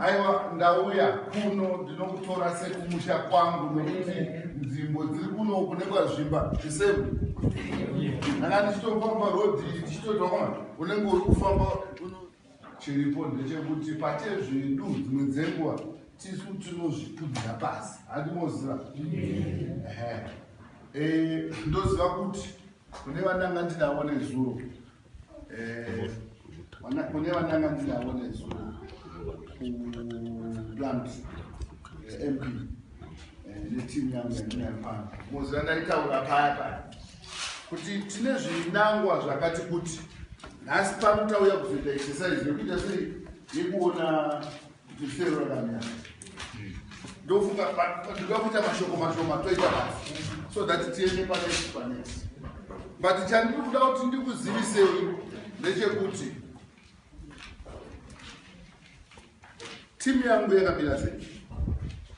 aiwa ndauya kuno ndinokutora sekumusha kwangu nokuti nzvimbo dziri kuno kune kwazvimba zvisemu ndanga ndichitofamba rodhi ndichitotaona unenge uri kufamba uno chiripo ndechekuti pate zvedu dzimwe dzenguva tisu tinozvipfudzira pasi handimoziva eh, ndoziva kuti kune vandanga ndidavo nezuro eh, kune vandanga ndinavo nesu kuplant eh, mp eh, netimu yangu yandinayopano moziva ndaitaura paya paya kuti tine zvinangwa zvakati kuti nhasi pano tauya kuzoita exercise yekuita sei yekuona ndofunga patinoda kuita mashoko mashoma toita basi so that tiende panext panext but chandiri kuda kuti ndikuzivisei ndechekuti timu yangu yakamira sei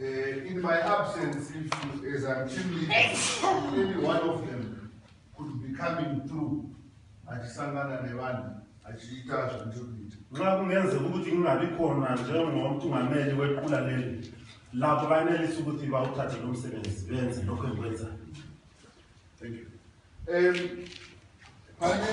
Uh, in my absence, if you, as I'm chief leader, any one of them could be coming through achisangana nevanhu achiita zvandiri kuita nxa kungenze ukuthi ngingabi khona njengomthungameli wequla leli lapho banelisa ukuthi bawuthathe lo msebenzi benze lokho engikwenzayo thank you um, pane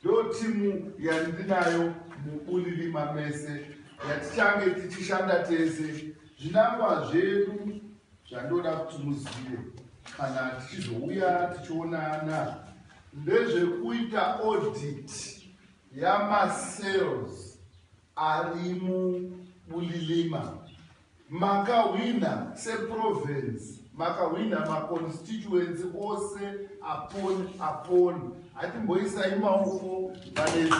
Ndiyo timu yandinayo muBulilima mese yatichange tichishanda tese. Zvinangwa zvedu zvandoda kuti muzive kana tichizouya tichionana ndezvekuita audit yamasales. Ari mu Bulilima. Makahwina se province, makahwina ma constituency ose upon upon. Hatimboisai maoko pane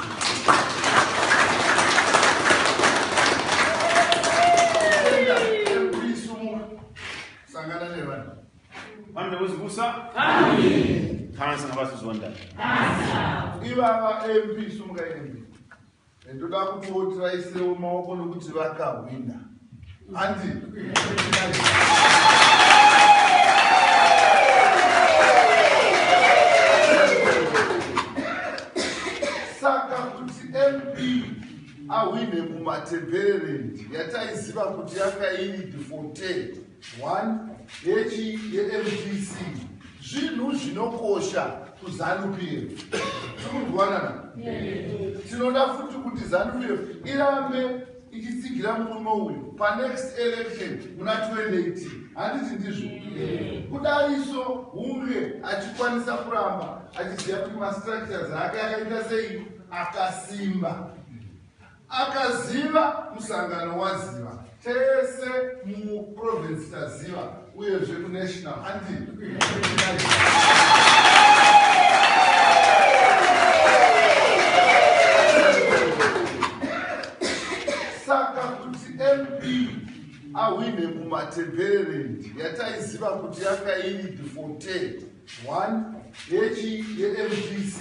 Kansa ngabasizondana. Ivava MP sumuka MP. Ndoda kuti wotiraisewo maoko nokuti vakahwina. Andi. Saka kuti MP ahwine mumatembererendi yataiziva kuti yakairidi 14. 1 yechi yemdc zvinhu zvinokosha kuzanupf tikunzwanana tinoda futi kuti zanupf irambe ichitsigira murume uyu panext election muna 2018 handiti ndizvo kudariso hunge achikwanisa kuramba achiziva kuti mastructures ake akaita sei akasimba Akaziva musangano waziva tese muprovince taziva uyezve kunational andi saka kuti mp ahwine mumatembererendi yataiziva kuti yanga iri defontain 1 yechii yemdc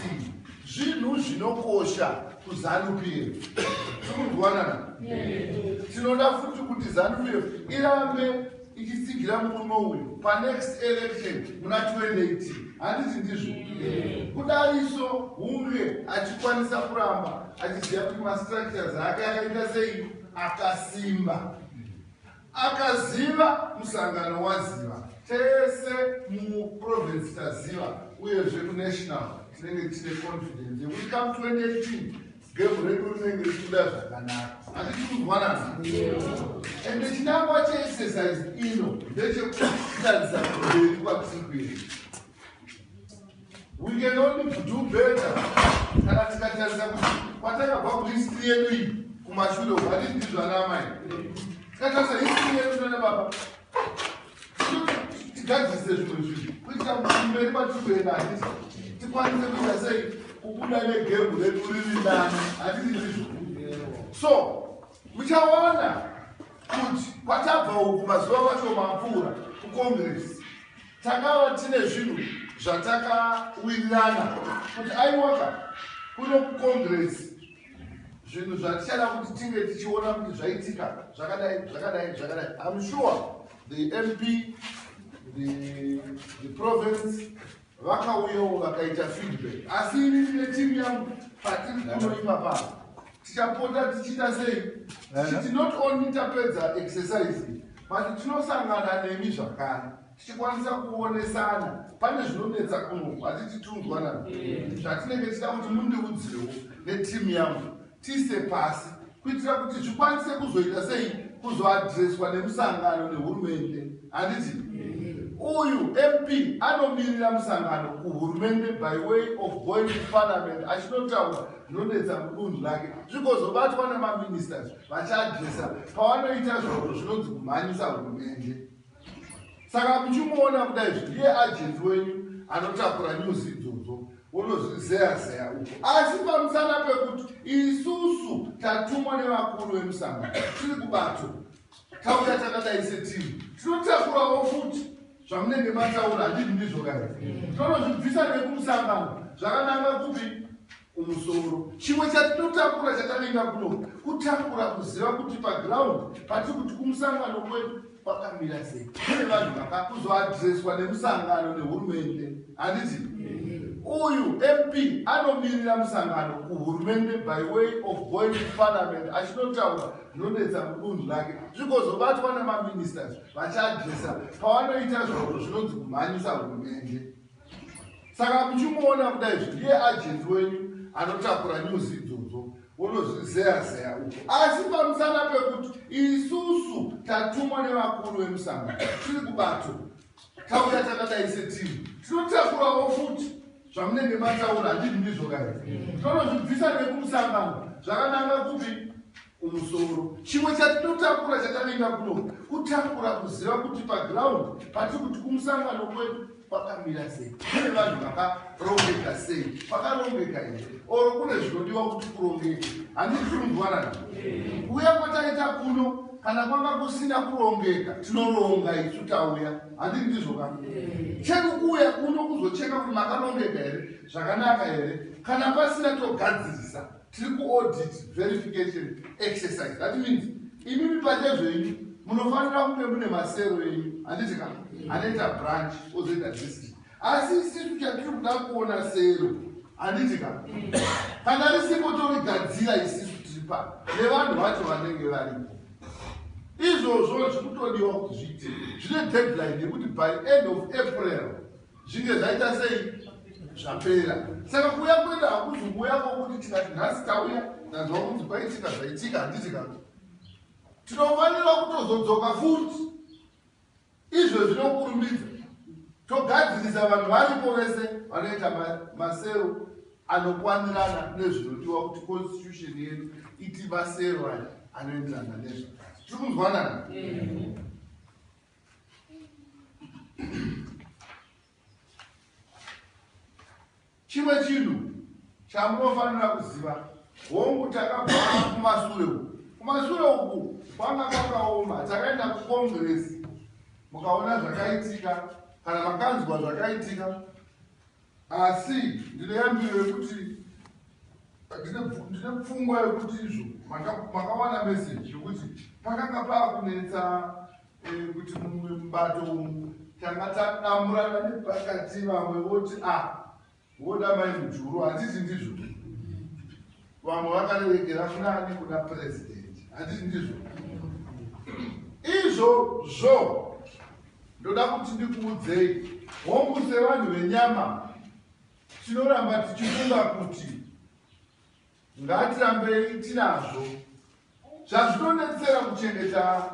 zvinhu zvinokosha kuzanupf tikurikuwanana tinoda futi kuti zanupf irambe ichitsigira murume uyu panext election muna 2018 handiti ndizvo kudariso hunge achikwanisa kuramba achiziva kuti mastructures ake akaita sei akasimba Akaziva musangano waziva tese muprovince taziva uyezve kunational tinenge tine confidence yekuti kam 2018 gemu redu rinenge richibuda zvakanaka hatitikunzwanana and chinangwa cheexercise ino ndechekutarisa mberi kwatiri kuenda We can only do better kana tikatarisa kuti kwatakabva kuti history yedu iyi kumashure uku hatisi ndizvo ana amai tikatarisa history yedu nana baba tigadzise zvimwe zvinhu kuitira kuti mberi kwatiri kuenda hatisi tikwanise kuita sei kubuda negembu redu riri nani hatisi ndizvo so muchawana kuti kwatabva uku mazuva kwacho mapfuura kucongress Takava tine zvinhu zvatakawirirana kuti aiwaka kuno kucongress zvinhu zvatichada kuti tinge tichiona kuti zvaitika zvakadai zvakadai zvakadai im sure the mp the, the province vakauyawo vakaita feedback asi ini ndine timu yangu patiri kunoipa pano tichapota tichiita sei tichiti not only tapedza exercise But tinosangana nemi zvakare tichikwanisa kuonesana pane zvinonetsa kunoku hati titunzwana zvatinenge tichida kuti mundiudzewo netimu yangu tiise pasi kuitira kuti zvikwanise kuzoita sei kuzoadreswa nemusangano nehurumende handiti uyu mp anomirira musangano kuhurumende by way of going to parliament achinotaura zvinonetsa mudunhu rake zvikozobatwa nemaministers vachadyisa pavanoita zvavo zvinonzi kumhanyisa hurumende saka muchimuona kuda izvi ndiye ajenzi wenyu anotakura nyuzi idzodzo unozvizeya zeya uku asi pamusana pekuti isusu tatumwa nevakuru vemusanga tiri kubato tauya takadai setimu tinotakurawo futi zvamunenge mataura handii ndizvo kana tonozvibvisa nekumusangano zvakananga kupi kumusoro chimwe chatinotakura chatavinga kuno kutakura kuziva kuti paground pati kuti kumusangano kwedu kwakamira sei kune vanhu vakakuzoadreswa nemusangano nehurumende handizi uyu mp anomirira musangano kuhurumende by way of going to parliament achinotaura zvinonetsa mudunhu rake zvikozobatwa nemaministers vachiadresa pavanoita zvavo zvinonzi kumhanyisa hurumende saka muchimuona kudai zvi ndiye agent wenyu anotakura news idzodzo wonozvizeya zeya uko asi pamusana pekuti isusu tatumwa nevakuru vemusangano tiri kubato tauya takadai setimu tinotakurawo futi zvamunenge mataura handii ndizvo kai tonozvibvisa nekumusangano zvakananga kupi kumusoro chimwe chatinotakura chatanoenda kuno kutakura kuziva kuti paground pati kuti kumusangano kwedu kwakamira sei kune vanhu vakarongeka sei kwakarongeka here or kune zvinodiwa kuti kurongeke handizikumvara kuuya kwataita kuno kana kwanga kusina kurongeka tinoronga isu tauya handii ndizvo ka chekukuuya kuno kuzocheka kuti makarongeka here zvakanaka here kana pasina togadzirisa Tiri kuaudit verification exercise that means imimi pachezvenyu munofanira kunge mune masero enyu handiti ka anoita branch ozoita district asi isisu chatiri kuda kuona sero handiti ka kana risipo torigadzira isisu tiri pa nevanhu vacho vanenge varipo izvozvo zviri kutodiwa kuti zviite zvine deadline yekuti by end of april zvinge zvaita sei zvapera saka kuuya kwenda hakuzi kuuya kwokuti tikati nhasi tauya ndanzwa kunzi kwaitika zvaitika handiti kati tinofanira kutozodzoka futi izvo zvinokurumbidza togadzirisa vanhu varipo vese vanoita masero anokwanirana nezvinodiwa kuti constitution yedu iti masero aya anoenderana nezvakati tiri kunzwanana chimwe chinhu chamunofanira kuziva hongu takabvaa kumasure uku kumasure uku kwanga kwakaoma takaenda kucongress mukaona zvakaitika kana makanzwa zvakaitika Asi ndine yambiro yekuti ndine pfungwa yekuti izvo makawana meseji yekuti pakanga paakunetsa eh, kuti mumwe mubato umu tanga tadamburana nepakati vamwe voti a ah, voda mai mujuru handiti ndizvo Vamwe vakarerekera fulani nekuda president. Handiti ndizvo? Izvo zvo ndoda kuti ndikuudzei hongu sevanhu venyama tinoramba tichifunga kuti ngatirambei tinazvo zvazvinobetsera kuchengeta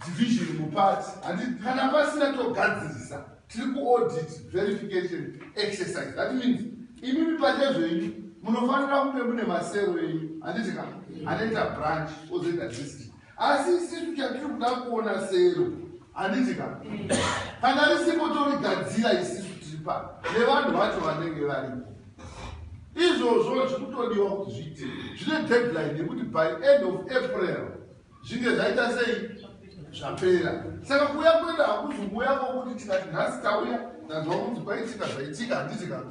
division muparty handi kana pasina togadzirisa tiri kuaudit verification exercise that means imimi pachezvenyu munofanira kunge mune masero enyu handiti ka anoita branch ozoita district asi isisu chatiri kuda kuona sero handiti ka kana risipo torigadzira isisu tiri pa nevanhu vacho vanenge varipo izvozvo zvikutodiwa kuti zviite zvine deadline yekuti by end of april zvinge zvaita sei zvapera saka kuuya kuenda hakuzi kuuya kwokuti tikati nhasi tauya tanzwa kunzi kwaitika zvaitika handiti ka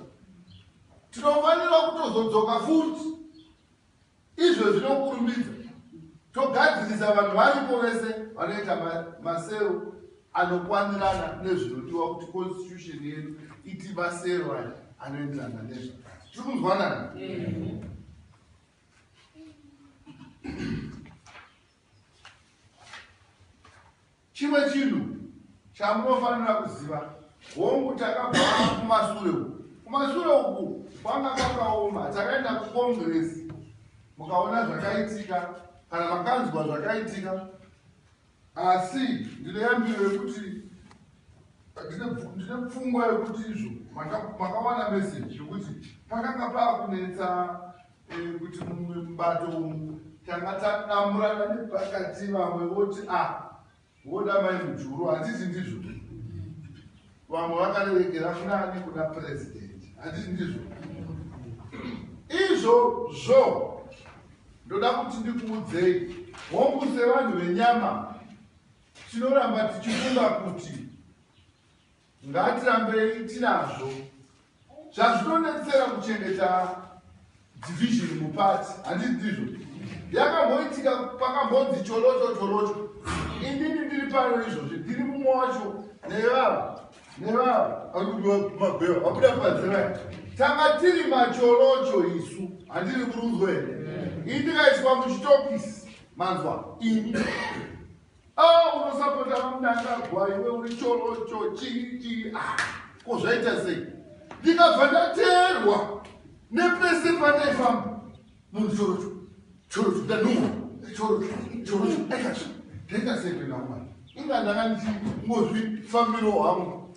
tinofanira kutozodzoka futi Izvo zvinokurumbidza togadzirisa vanhu varipo vese vanoita masero anokwanirana nezvinodiwa kuti constitution yedu iti masero aya anoenderana nezva tiri kunzwanana Chimwe chinhu chamunofanira kuziva, hongu takabva kumasure uku. Kumasure uku kwanga kwakaoma, takaenda kukongiresi mukaona zvakaitika kana makanzwa zvakaitika, asi ndine yambiro yekuti ndine pfungwa yekuti izvo makawana meseji yekuti pakanga paakunetsa Eh, kuti mumwe mubato umu tanga tadamburana nepakati vamwe voti a ah, voda mai mujuru handiti ndizvo vamwe vakarerekera kuna ani kuna purezidendi handiti ndizvo izvo zvo ndoda kuti ndikuudzei hongu sevanhu venyama tinoramba tichifunga kuti Ngatirambei tinazvo. Zvazvinonetsera kuchengeta division muparty handiti ndizvo? Yakamboitika pakambonzi cholocho cholocho. Indini ndiri pano izvozvi ndiri mumwe wacho nevava nevava mabewa vabuda padzimai tanga tiri macholocho isu handiri kurudzwa here ini ndikaiswa muchitokisi manzwa ini Ah, unosapota vamnangagwa iwe uri chorocho chii chii ah, ko zvaita sei ndikabva ndateerwa nepese pandaifamba munhu chorocho chorocho ndanhuwa chorocho chorocho aikazvi ndaita sei kuenda kumana inga ndanga ndichingozvifambiro hwangu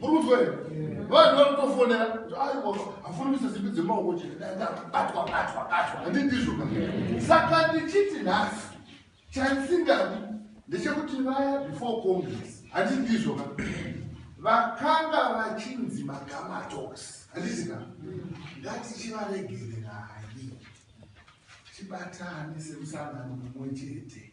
muri kunzwa here vanhu vari kutofonera kuti aiwa hafuni kuisa simbi dzemaoko chete batwa batwa batwa handindizvo ka saka ndichiti nhasi chandisingadi ndechekuti vaya before congress handindizvo ka vakanga vachinzi magamatox handiti ka ngatichivaregererai tibatane semusangano mumwe chete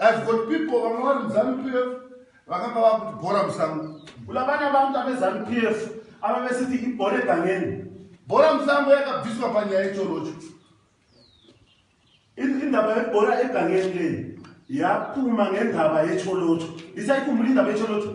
I've got people vamwe vari muZanu PF vakanga vakuti bhora musango. Kula vana vangu tave Zanu PF ava vesiti ibhore gangeni. Bhora musango yakabviswa panyaya yechorocho. Indaba yebhora egangeni leyi yapuma ngendaba yecholocho. Ndisai kumhuri indaba yecholocho.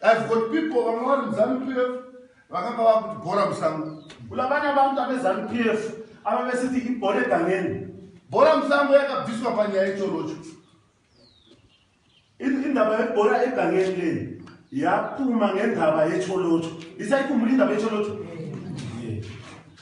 I've got people vamwe vari muzanu pf vakanga vakuti bhora musango kula vana vangu avezanu pf ava vesiti ibhore gangeni bhora musango yakabviswa panyaya yechorocho indaba yebhora egangeni leni yapuma ngendaba yecholocho isaikumuli indaba yecholocho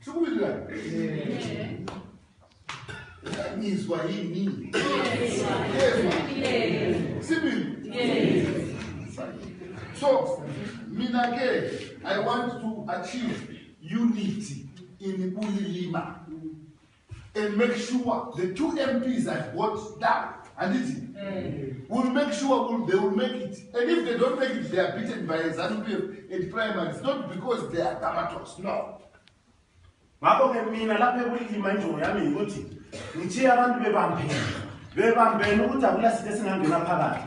Sikumirira. Izwa ini. Sibili. So, mina ke, I want to achieve unity in Bulilima. and make sure the two mps have got down handiti mm. will make sure will, they will make it and if they don't make it they are beaten by zanupf and primaries not because they are tamatos no ngakho-ke mina lapho ekulima injongo yami yikuthi ngithiye abantu bebambeni bebambeni ukuthi akulasithe singangena phakathi